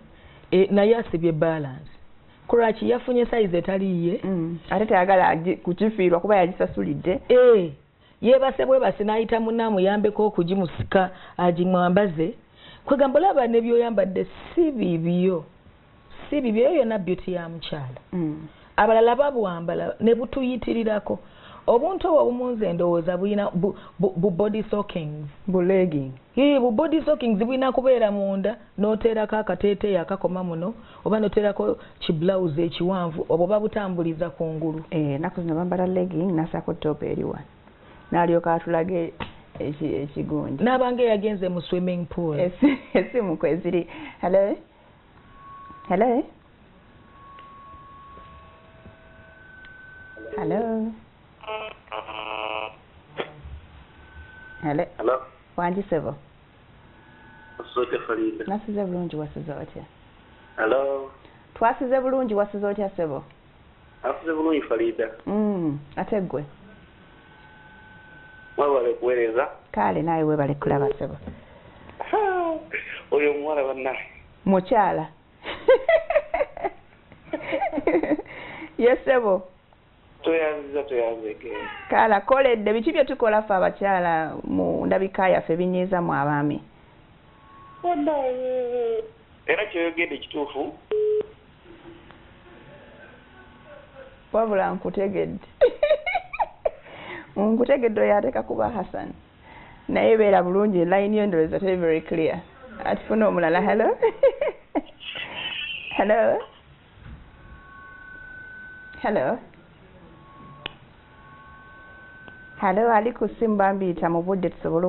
e, naye asibye balance kulwaki yafunye sayizi etaliiye mm. ate teyagala kukifiirwa kuba yagisasulidde e. yebase bwebasi nayita muna amuyambeko okugimusika agimwambaze kwegamba olaba nebyoyambadde si bibyo si bibyo eyo yona beauty ya mukyala mm. abalala babwambala nebutuyitirirako obuntu obwo obumunze endowooza bulina bu body sockings bulina kubeera munda noteerako akateeteeyi akakoma muno oba noteerako kiblauzi ekiwanvu obwo babutambuliza ku ngulu enaku eh, zino bambala legging nasaako top eri wano nalyoka atulage ekigunja n'abanga eyagenze mu swimming pool esimu kweziri hello hello hello hello hello wangi sebo nasize bulungi wasuze otya hello twasize bulungi wasuze otya sebo asuze bulungi farida mm ate gwe webale kuweereza kale naye webale kulaba sebo oyo omuwala bannaye mukyala yesebo tweyanziza tweyanzege kala koledde biki bye tukola ffe abakyala mu ndabika yaffe binyiiza mu abaami era kyoyogedde kituufu wabula nkutegedde nkutegedde oyo ateka kuba hassan naye beera bulungi line yo ndowooza teri very clear atufuna omulala hello hello hello hello ali ku simu bambiyita mu budde tusobole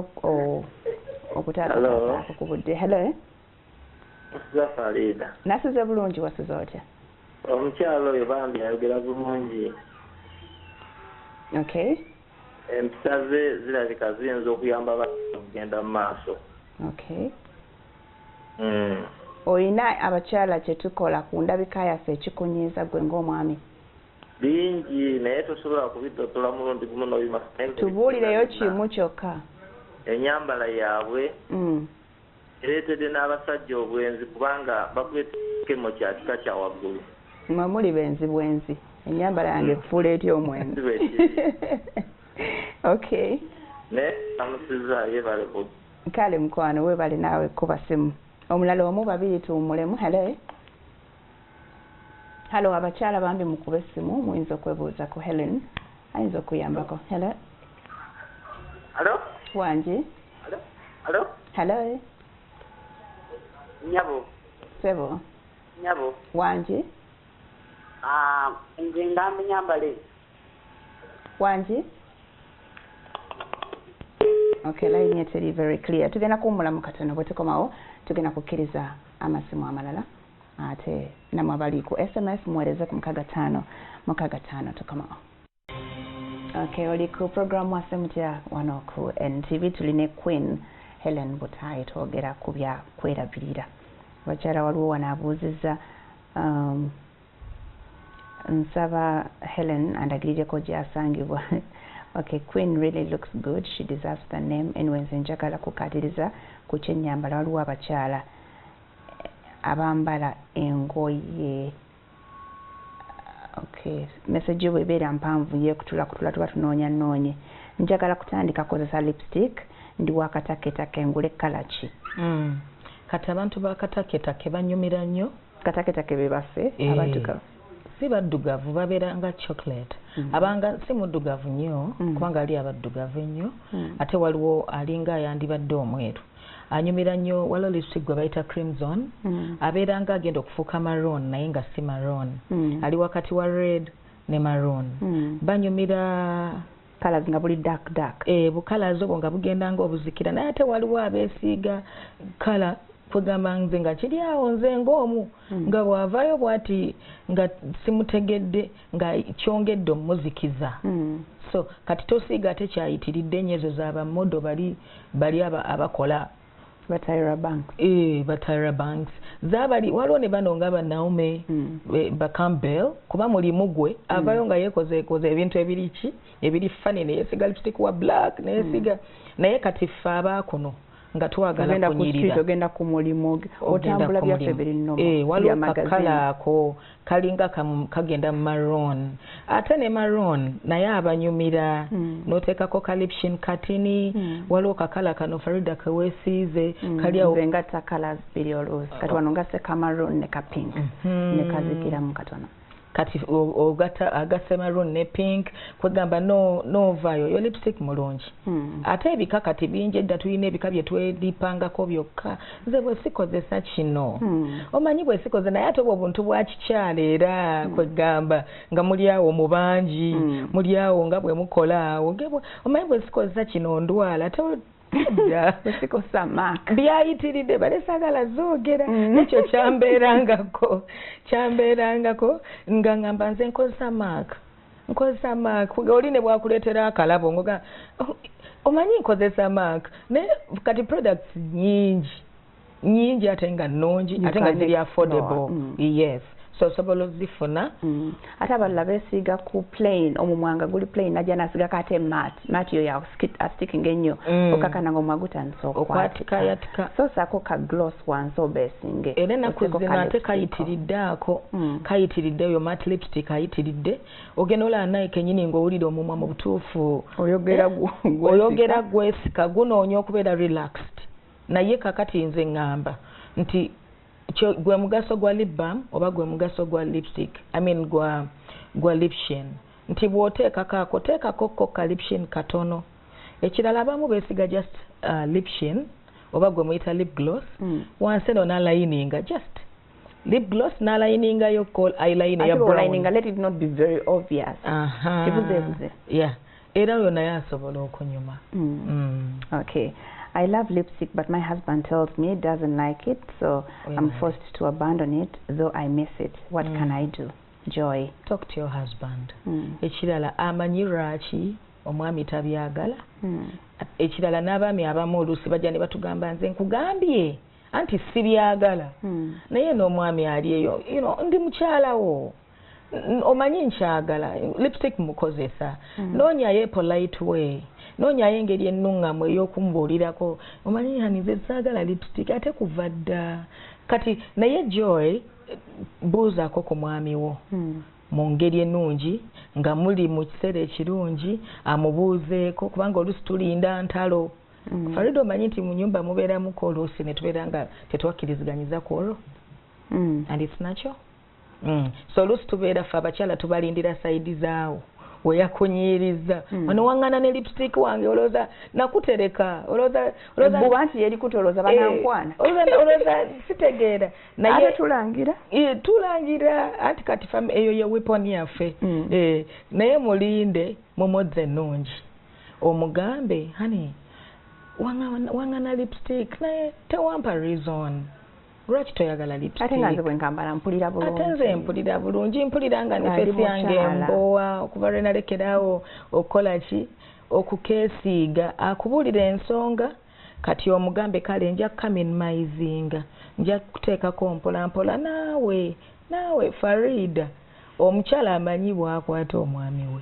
okutaataako ku budde hello zafariida nasize bulungi wasize otya omukyalo oyo bambi ayogera bulungi okay empisa ze zirabika ziyinza okuyamba abantu okugenda mu maaso okay mm. olina abakyala kyetukola ku ndabika yaffe ekikunyiiza gwe ng'omwami bingi naye tosobola kubidottola mulundi gumu nobima tubuulireyo kimu kyokka enyambala yaabwe mm. ereetedde n'abasajja obwenzi kubanga bakuletekemo kya kika kya waggulu mwe muli benzi bwenzi enyambala yange mm. kufuula ety omwenzi okay naye amusiza yebale kale mukwano webale naawe kuba simu omulala omu babiri tuwumulemu halo halo abakyala bambi mukube simu muyinza okwebuuza ku helen ayinza okuyambako halo halo wangi halo halo nyabo sebo nyabo wangi Ah, nze ndambi nyambale wangi okay line ye teri very clear tugenda kuwumulamu katono bwe tukomawo tugenda kukkiriza amasimu amalala ate namwe abali ku sms muweereze ku mukaga ttaano mukaga ttaano tukomawo Okay, oli ku programu waffe mutya wano ku NTV tuli ne Queen Helen Butayi twogera ku bya kwerabirira. Abakyala waliwo wano abuuzizza um, nsaba Helen andagirireko gyasangibwa okay queen really looks good she deserves the name anyway nze njagala kukatiriza ku kyenyambala waliwo abakyala abambala engoye okay message yo bwebeera mpanvu yekutula kutula tuba tunoonya noonye njagala kutandika kozesa lipstick ndi wakataketake ngule kala ki mm. kati abantu bakataketake banyumira nnyo kataketake bebaffe e. Eh. abaddugavu si baddugavu babeera nga chocolate mm. abanga si muddugavu nnyo mm. kubanga ali abaddugavu ennyo mm. ate waliwo alinga ayandibadde omweru anyumira nnyo waliwo lipstick gwe bayita crimson mm. abeera nga agenda okufuuka maroon naye nga si maroon mm. ali wakati wa red ne maroon mm. banyumira colors nga buli dark dark eh bu colors obwo nga bugenda nga obuzikira naye ate waliwo abeesiiga kala kwegamba nze nga kiri awo nze ng'omu mm. nga bw'avaayo bw'ati nga simutegedde nga kyongedde omuzikiza hmm. so kati tosiiga ate kyayitiridde enyo ezo za bamodo bali bali abakola batayira banks ee batayira banks zabali waliwo ne bano nga banaume hmm. bacampbell kuba mulimu gwe hmm. avayo nga yekozeekoze ebintu ebiri ki ebiri fani neyesiga lipstick wa black neyesiga naye kati ffe abaakuno nga twagala kunyirira ogenda ku mulimu otambula byaffe biri nnomu eh, waliwo kakala ako kalinga kagenda mu maroon ate ne maroon naye abanyumira hmm. noteekako kalipshin katini hmm. waliwo kakala kano farida kewesiize hmm. kaliawoenga takala biri oluusi kati wano nga sekamaroon ne kapink ne kazikiramu katono kati ogata agase maroon ne pink kwegamba no no vayo yo lipstick mulungi mm. ate ebika kati bingi edda tulina ebika bye twedipangako byokka nze bwe sikozesa kino mm. omanyi bwe sikoze naye ate obwo buntu bwa kikyala era mm. kwegamba nga muli awo mu bangi mm. muli awo nga bwe mukola awo omanyi bwe sikozesa kino ndwala sikosa mak byayitiridde bale sagala zogera mm. nekyo kyambeerangako kyambeerangako nga ngamba nze nkozesa mak nkozesa mak oli ne bwakuleetera akalabo ngoga oh, omanyi nkozesa mak naye kati products nyingi nyingi ate nga nungi ate nga ziri affordable mm. yes so osobola ozifuna mm. ate abalala besiiga ku plain omumwanga guli plain naja nasigako ate mat mat yo yasticking ennyo mm. okakana nga omwa gutandisa okwatika so sako ka gloss wansi obesinge era enaku zino ate kayitiridde ako mm. kayitiridde oyo mat lipstick ayitiridde ogenda olaba naye kenyini ngaowulira omumwa mu butuufu oyogera eh? gwesika gunoonya okubeera relaxed naye kakati nze ngamba nti gwe mugaso gwa lip balm oba gwe mugaso gwa lipstick i mean gwa gwa lipshin nti bw'oteekako ako teekako ko ka lipshin katono ekirala abamu beesiga just uh, lipshin oba gwe muyita lip gloss mm. wansi eno nalayininga just lip gloss n'alayininga yo call eyeline ya brown let it not be very obvious aha kibuzebuze yeah era oyo naye asobola okunyuma mm. mm. okay I love lipstick, but my husband tells me doesn't like it, so yeah. I'm forced to abandon it, though I miss it. What mm. can I do? Joy. Talk to your husband. Mm. Ekirala amanyi lwaki omwami tabyagala. Mm. Ekirala n'abaami abamu oluusi bajja ne batugamba nze nkugambye. anti sibyagala hmm. naye n'omwami ali eyo ndi mukyalawo omanyi nkyagala lipstick mukozesa hmm. noonyayo epolite way noonyayo engeri ennuŋŋamu ey'okumbuulirako omanyi hani nze saagala lipstick ate kuva dda kati naye joy buuzaako ku mwami wo hmm. mu ngeri ennungi nga muli mu kiseera ekirungi amubuuzeeko kubanga olusi tulinda ntalo mm. farida omanyi nti munyumba mubeeramuko oluusi netubeera nga tetwakkirizganyiza ku olwo mm. and its nakyo mm. so oluusi tubeera fe abakyala tubalindira saidi zaawo weyakunyiiriza mm. onewangana ne lipstick wange olowooza nakutereka olowoozabuba nti yerikuta olowooza eh, banankwana olowooza sitegeera naye tulangira eh, tulangira anti kati eyo ye weapon yaffe mm. eh, naye mulinde mumodzi ennungi omugambe honey wangana lipstick naye tewampa reason lwaki toyagala lipstickate nze mpulira bulungi mpulira nga nefesi yange mbowa okuva lwe nalekeraawo okukola ki okukeesiiga akubuulira ensonga kati omugambe kale nja kamin maizinga nja kuteekako mpola mpola naawe naawe farida omukyala amanyi bwakwata omwami we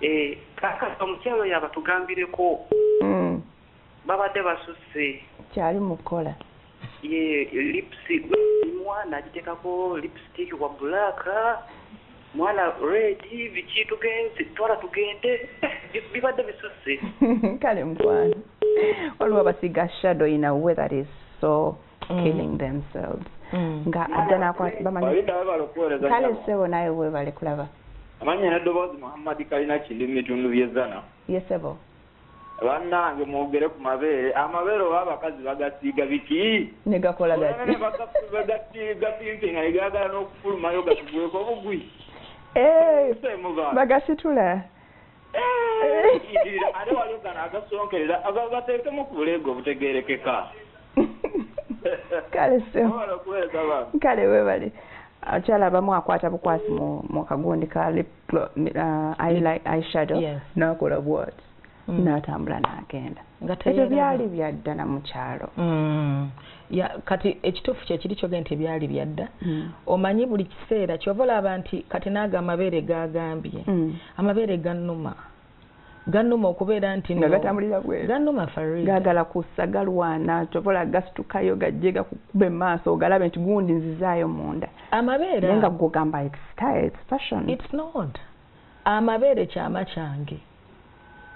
Eh, kakati omukyalo oyo abatugambireko mm. babadde basusse kyali mukukola ye lipsi mwana agitekako lipstik wa black mwana red biki tugenze twala tugende eh, bibadde bisusse kale mukwano waliwo abasiga shadow in a way that is so mm. killing themselves mm. nga ajja nakwabamanykale sebo naye webale kulaba amanya nedoboozi muhammadi kalina kindi mu bitundu byezana yesebo bannange mwogere ku mabeere amabeere oba abakazi bagasiiga biki negakola gatigasimpi nga negagala n'okufulumayo gatugweko obugwi eh, bagasitula ate waliwo gano agasonkerera bateekemu ku buleega obutegerekeka kale kale webale abakyala abamu akwata bukwasi mu kagundi ka lipshadow uh, nakola bwat mm. natambula nagenda ebyo byali byaddala mukyalo mm. ya kati ekituufu kyekiri kyogee nti byali byadda mm. omanyi buli kiseera kyova olaba nti kati naago amabeere gagambye mm. amabeere ganuma ganuma okubeera nti nga gatambulira bweru ganuma farid gagala kussa galwana kyovola gasitukayo gajje gakukuba emaaso ogalabe nti gundi nzizaayo munda amabeere naye nga gugamba its style its fashion its not amabeere kyama kyange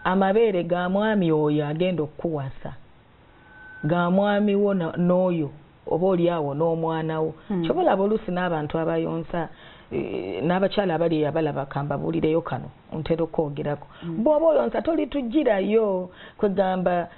amabeere ga mwami oyo agenda okukuwasa ga mwami wo n'oyo oba oli awo n'omwana wo hmm. kyoba olaba oluusi n'abantu abayonsa eh, n'abakyala abali eyo abalaba kambabuulireyo kano ntera okwogerako hmm. bw'oba oyonsa tolitugirayo kwegamba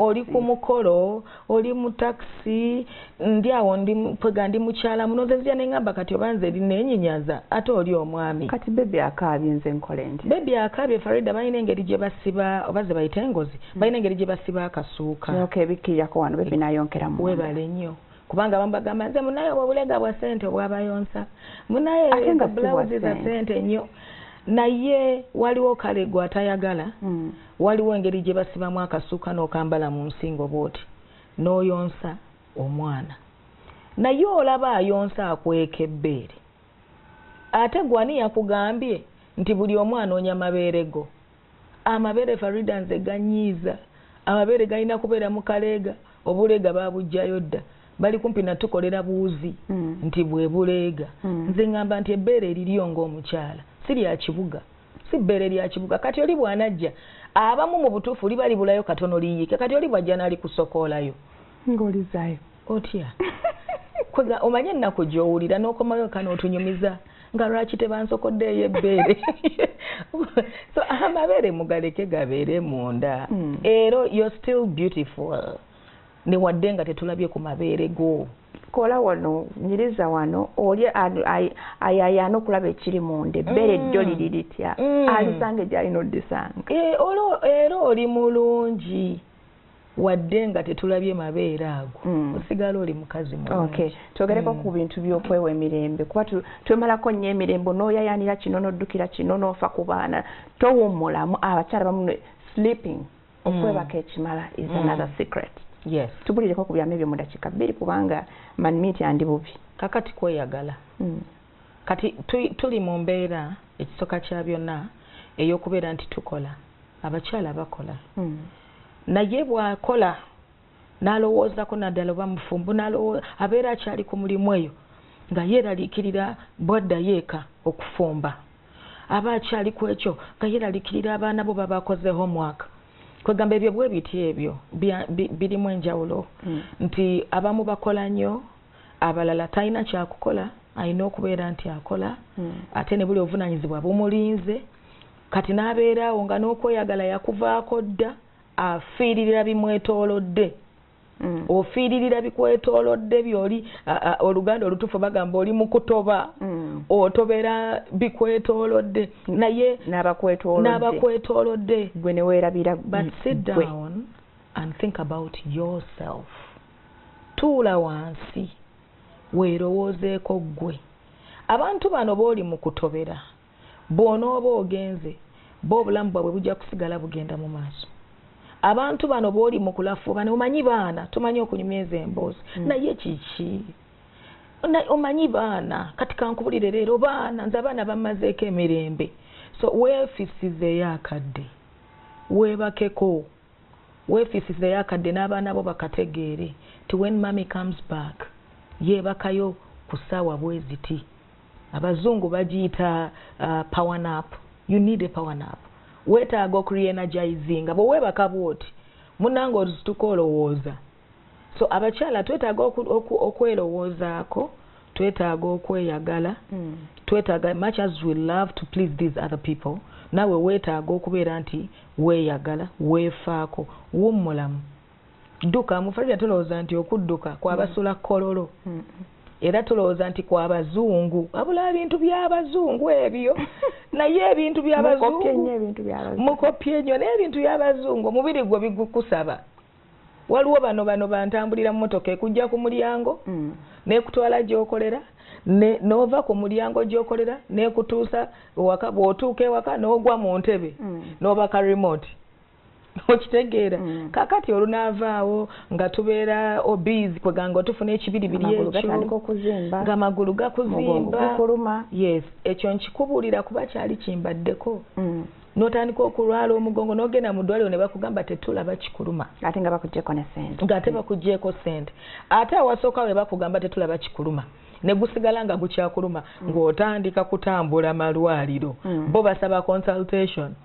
oli ku mukolo oli mu takisi ndi awo ndi mpwega ndi mukyala muno nze nzija nengamba kati oba nze nenyinyaza ate oli omwami kati bebi akaabye nze nkole nti bebi akaabye farida balina engeri gye basiba oba ze bayita engozi hmm. balina engeri gye basiba akasuuka yoka ebikkirako wano bebi nayonkeramu webale nnyo kubanga abamu bagamba nze munaye obwo obulega bwa sente obwabayonsa munaye bulawuzi za sente nnyo naye waliwo kale gwe atayagala hmm. waliwo engeri gye basibamu akasuuka n'okambala mu nsingo bwoti n'oyonsa omwana naye olaba ayonsa akweka ebbeere ate gwani yakugambye nti buli omu anoonya mabeere go amabeere farida nze ganyiiza amabeere galina kubeera mu kaleega obuleega babujjayo dda bali kumpi natukolera buuzi hmm. nti bwebuleega hmm. nze ngamba nti ebbeere eriryo ngaomukyala sirya kibuga si bbeere lya kibuga kati oli bwanajja abamu mu butuufu liba libulayo katono liyiike kati oli bwajja naali kusokoolayo ngaolizayo otya koza omanye ennaku gyowulira n'okomayo ka n'otunyumiza nga lwaki tebansokodde eyo ebbeere so amabeere mugaleke gabeere munda hmm. era you're still beautiful newadde nga tetulabye ku mabeere go kola wano nyiriza wano oli ayayaana okulaba ekiri munda ebbere mm. jjo liri litya mm. alisanga egyalina odisanga eh, era oli mulungi wadde nga tetulabye mabeere ago mm. osigala oli mukazi okay. twogereko mm. ku bintu byokwewa emirembe kuba twemalako nnyo emirembe noyayanira kino noddukira kino nofa ku baana towummulamu abakyala bamu sleeping okwebaka ekimala is mm. another secret yes tubulireko ku byama ebyo mu dakiika bbiri kubanga manmiti andi bubi kakati kweyagala mm. kati tuli mu mbeera ekisoka kya byonna ey'okubeera nti tukola abakyala bakola mm. naye bwakola n'alowoozako naddala oba mufumbo abeera akyali ku mulimu eyo nga yeeralikirira bwaddayo eka okufumba aba akyali ku ekyo nga yeeralikirira abaana bo babakoze homework kwegamba ebyo bwe biti ebyo birimu enjawulo hmm. nti abamu bakola nnyo abalala talina kyakukola alina okubeera nti akola hmm. ate ne buli obuvunaanyizibwa bumulinze kati n'abeeraawo nga n'okweyagala yakuvaako dda afiiririra bimwetoolodde mm. ofiiririra bikwetoolodde byoli oluganda olutuufu bagamba oli mukutoba mm. otobera bikwetoolodde naye n'abakwetoolodde gwe neweerabira but sit down and think about yourself tuula wansi weerowoozeeko ggwe abantu bano booli mu kutobera Bw'onooba ogenze, bo obulamu bwabwe bujja kusigala bugenda mu maaso. Abantu bano bw'oli mu kulafuuba ne omanyi baana, tumanyi okunyumya ezo emboozi, mm. naye kiki? omanyi baana kati kankubulire leero baana nze abaana bamazeeko emirembe so weefisizeyo akadde weebakeko weefisizeyo akadde n'abaana bo bakategeere ti wen mummy comes back yeebakayo ku ssaawa bweziti abazungu bagiyita uh, power nap you need a power nap weetaaga okureenergizinga bwe weebaka bwoti munange ozituka olowooza so abakyala twetaaga okwerowoozaako oku, oku twetaaga okweyagala hmm. twetaaga much as we love to please these other people nawe weetaaga okubeera nti weeyagala weefaako wummulamu dduka mufalira tulowooza nti okudduka kwabasula mm. kololo mm. era tulowooza nti kwabazungu abula ebintu byabazungu ebyo naye ebintu byabazungumukopye nyo naye ebintu byabazungu omubiri gwo bigukusaba waliwo bano bano bantambulira mu motoka ekujja ku mulyango mm. nekutwala gyokolera nova ku mulyango gyokolera nekutuusa bwotuuka ewaka nogwa mu ntebe nobaka remote okitegeera mm. kakati olunaavaawo nga tubeera obizi kweganga otufuna ekibiribiri ekyoamagulu gakuzimba yes ekyo nkikubuulira kuba kyali kimbaddeko mm. notandika okulwala omugongo nogenda mu ddwaliro ne bakugamba tetulaba kikuluma ate nga bakugyeko ne sente ngaate bakugyeko sente ate awasooka we bakugamba tetulaba kikuluma negusigala nga gukyakuluma mm. ng'otandika kutambula malwaliro mm. bo basaba consultation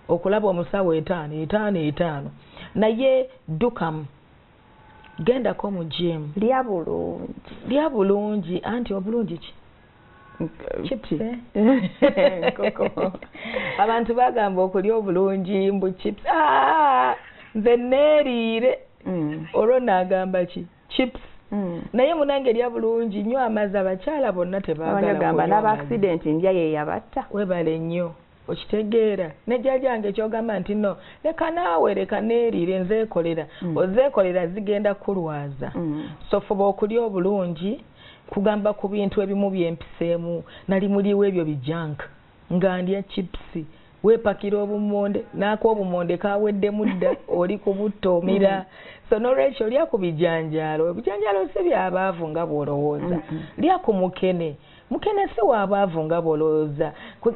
okulaba omusawo etaano etaano etaano naye dukamu gendako mu jimu lya bulungi lya bulungi anti obulungi ki abantu bagamba okulya obulungi mbu chips ah, nze neeriire mm. olwo naagamba ki chips mm. naye munange erya bulungi nyo amazi abakyala bonna tebagamba n'abaaksidenti ndya yeyabatta webale nnyo okitegeera ne jjaja wange kyogamba nti no leka naawe leka neeriire nzeekolera mm. ozeekolera zigenda kukulwaza mm. so fuba okulya obulungi kugamba ku bintu ebimu byempiseemu nali muliwo ebyo bijanka nga ndya chipusi wepakira obumonde naako obumonde kaweddemu dda oli kubutta omira mm. so nolwekyo lya ku bijanjaalo ebijanjaalo si byabaavu nga bwolowooza mm-hmm. lya ku mukene mukene si wabaavu nga bwolowooza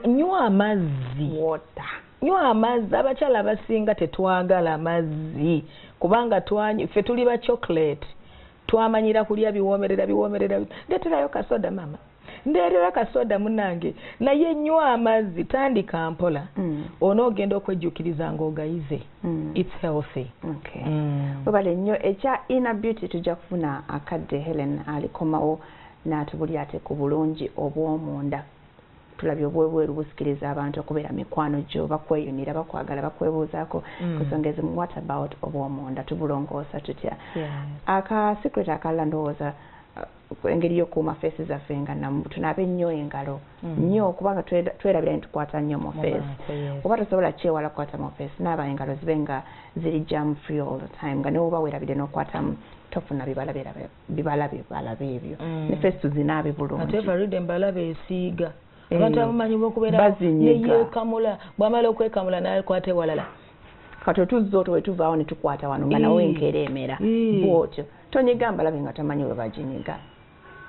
nywa amazzi wota nywa amazzi abakyala abasinga tetwagala mazzi kubanga twanyi ffe tuli ba chocolate twamanyira kulya biwoomerera biwoomerera ndeterayo kasoda mama ndeerera kasoda munange naye nywa amazzi tandika mpola mm. onoogenda okwejjukiriza ngaogayize mm. its healthy okay. mm. webale nnyo ekya inner beauty tujja kufuna akadde helen alikomawo Natubulira ate ku bulungi obw'omunda. Tulabye obw'ebweru busikiriza abantu okubeera mikwano gyo, bakweyunira, bakwagala, bakwebuuzaako ku nsonga ezimu. What about obw'omunda? Tubulongoosa tutya? Aka secret akalala ndowooza engeri yokuuma feesi zaffe nga namu tunaabe nnyo engalo nnyo mm. kubanga twerabira ni tukwata nnyo mu feesi oba tosobola kyewala kukwata mu feesi naaba engalo zibe nga ziri jam free all the time nga newoba werabidde n'okwatamu tofuna bibala birabeo bibala bibala byebyo mm. ne face tuzinabe bulungi ate Farida embala besiiga eh, abantu abamanyi bokubeera neyekamula bwamala okwekamula naye kwate walala kato tuzzo to wetuvawo ne tukwata wano nga nawe eh. nkereemera eh. bwotyo tonyiga mbalabe nga tamanyi we baginyiga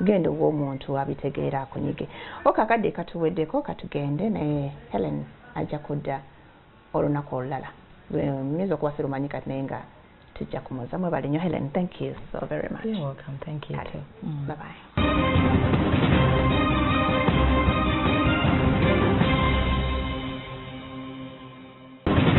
genda owa omuntu abitegeera akunyige okakadde katuweddeko katugende naye helen ajja kudda olunaku olulala nyinza okuba sirumanyi kati naye nga tujja kumuza mwebale nyo helen thank you so very much You're welcome. Thank you too. Mm. bye bye